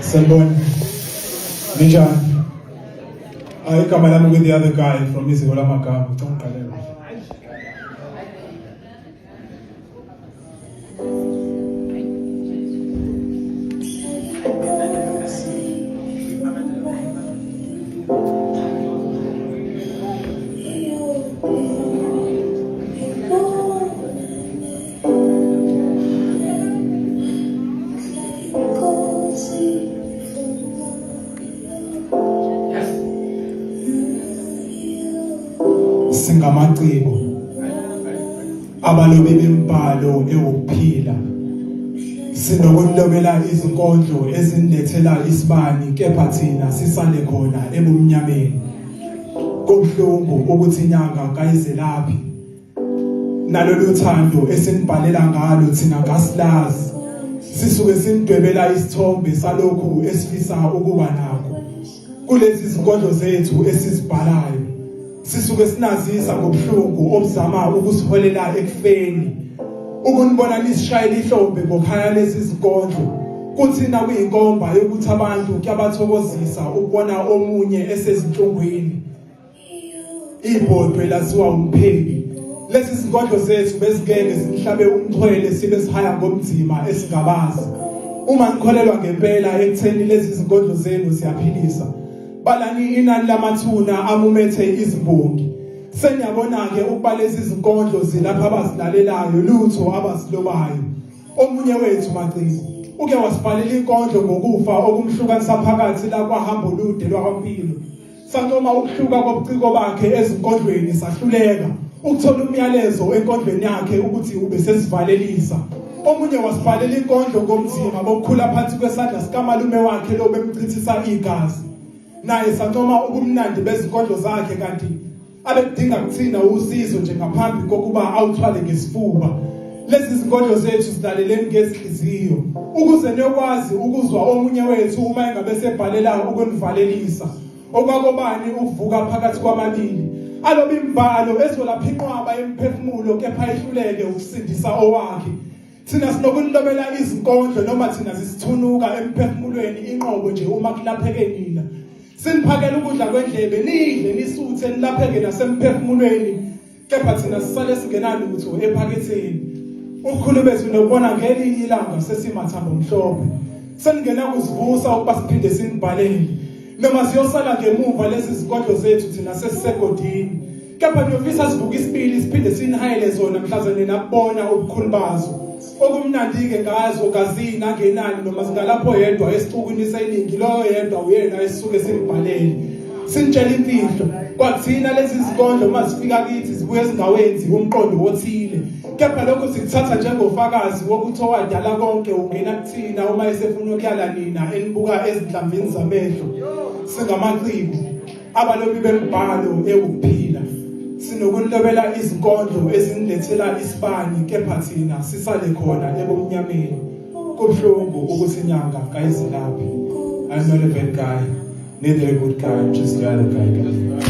Sanibona. Ninjani? Ah, igama lami with the other guy from iziko lamagama ngicela uqalela. singamaciko abalobi bembhalo ewukuphila sinokulobela izinkondlo ezindethela isibani kepha thina sisale khona ebumnyameni kubuhlungu ukuthi inyanga kayizelaphi nalolu thando esinibhalela ngalo thina kasilazi sisuke sinidwebela isithombe salokhu esifisa ukuba nakho kulezi zinkondlo zethu esizibhalayo sisuke sinazisa ngobuhlungu obuzama ukusiholela ekufeni ukunibona nisishayela ihlombe ngokhaya lezi zinkondlo kuthi nakuyinkomba yokuthi abantu kuyabathokozisa ukubona omunye esezinhlungwini ibhodwe lasiwa umpheki lezi zingodlo zethu bezingeke zihlabe umxhwele sibe sihaya ngomzima esingabazi uma nikholelwa ngempela ekutheni lezi zingodlo zenu siyaphilisa balani inani lamathuna amumethe izimbongi seniyabona ke ukuba lezi zinkondlo zilapha abazilalelayo lutho abasilobayo omunye wethu macingo uke wasibhalela inkondlo ngokufa okumhlukanisa phakathi la kwahambo lude lwakwampilo Sancoma ukuhluka kobuciko bakhe ezinkondlweni sahluleka ukuthola umyalezo enkondlweni yakhe ukuthi ubesesivalelisa. Omunye wasivalela inkondlo ngomzima bokukhula phansi kwesandla sikamalume wakhe lo bemchithisa igazi. Naye sancoma ubumnandi bezinkondlo zakhe kanti abekudinga kuthina usizo nje ngaphambi kokuba awuthwale ngesifuba lezi zinkondlo zethu zilaleleni ngezinhliziyo ukuze niyokwazi ukuzwa omunye wethu uma engabe sebhalela ukunivalelisa okwakobani ukuvuka phakathi kwababili aloba imbhalo ezolapha inqwaba yemphefumulo kepha ihluleke ukusindisa owakhe Thina sinokulobela izinkondlo noma thina zisithunuka emphefumulweni inqobo nje uma kulapheke nina. Siniphakela ukudla kwendlebe nidle nisuthe nilapheke nasemphefumulweni kepha thina sisale singenalutho ephaketheni. Ukhulu bethu nokubona ngelinye ilanga sesimathambo mhlophe. Seningena kusivusa ukuba siphinde sinibhalele. Noma siyosala ngemuva lezi zinkondlo zethu thina sesisegodini. kepha niyofisa sivuke isibili siphinde sinihayele zona mhlawumbe nina bona ubukhulu bazo okumnandi-ke ngazo kazini angenani noma zingalapho yedwa esicukwini seningi loyo yedwa uyena esisuke simbhalele sinitshela imfihlo kwathina lezi zikondlo uma zifika kithi zibuye ezingawenzi umqondo wothile kepha lokhu sikuthatha njengofakazi wokuthi owadala konke ungena kuthina uma esefuna ukuyala nina enibuka ezinhlambini zamehlo singamaciko abalobi bembhalo ewuphila sinokulobela izinkondlo ezinilethela isibani kepha thina sisale khona ebumnyameni kubuhlungu ukuthi inyanga kayizelaphi I'm not a bad guy neither a good guy just the other guy